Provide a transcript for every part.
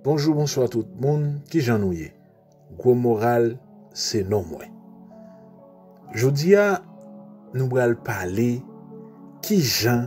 Bonjou bonswa tout moun kijan nou ye gwo moral se non mwen jodi a nou bral pale kijan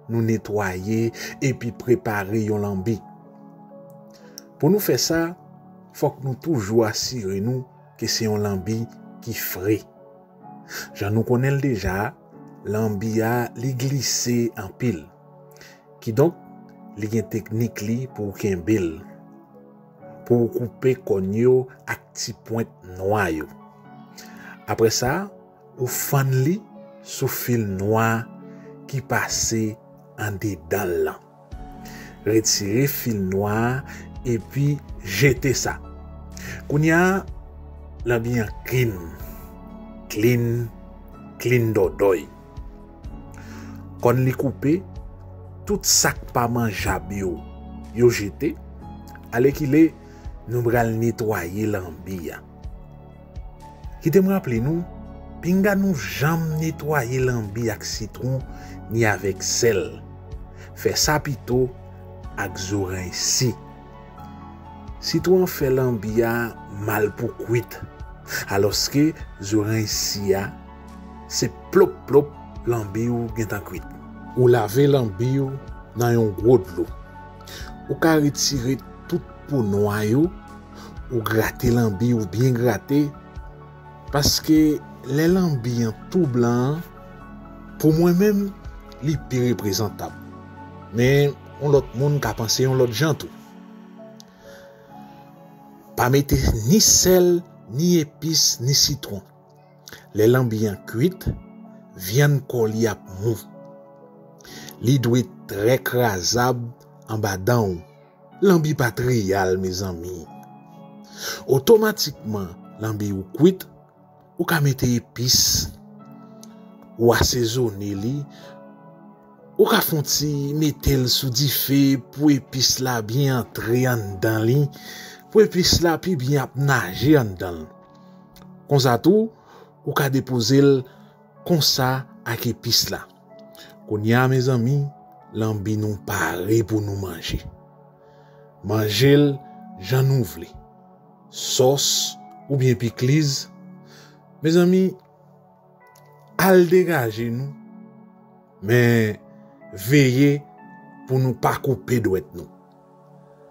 nou netwaye epi prepare yon lanbi pou nou fè sa fòk nou toujou asire nou ke se yon lanbi ki fre. Jan nou konnen l deja, lanbi a li glise anpil. Kidonk, li gen teknik li pou w kenbe l. Pou w koupe kòn yo ak ti pwent nwa yo. Apre sa, ou fann li sou fil nwa ki pase andedan l lan. Retire fil nwa a epi jete sa. Kounya lanbi an klin. Klin, klin dòdòy. Kòn li koupe, tout sa k pa manjab yo, yo jete. Alèkile, nou pral netwaye lanbi a. Kite m raple nou, pinga nou janm netwaye lanbi ak sitwon ni avèk sèl. Fè sa pito ak zo rensi. Sitwon an fè lanbi a mal pou kwit, alòske zo rensi a se plop plop lanbi ou gentan kwit. Ou lave lanbi ou nan yon gwo dlo. Ou ka retire tout po nwa yo. ou grate lanbi ou byen grate paske lè lanbi an tou blan pou mwen menm li pi reprezantab men yon lòt moun ka panse yon lòt jan tou pa mete ni sèl ni epis ni sitwon lè lanbi an kwit vyann kò li ap mou li dwe trè krazab anba dan ou. Lanbi pa t reyal mezanmi. Otomatikman lanbi ou kwit, ou ka mete epis, ou asezone li, ou ka fon ti mete l sou dife pou epis la byen antre anndan li, pou epis la pi byen ap naje anndan l. Konsa tou, ou ka depoze l. Konsa ak epis la. Kounye a mezanmi, lanbi nou pare pou nou manje. Manje l jan nou vle. Sòs oubyen pikliz. Mezanmi, al degaje nou, men veye pou nou pa koupe dwèt nou.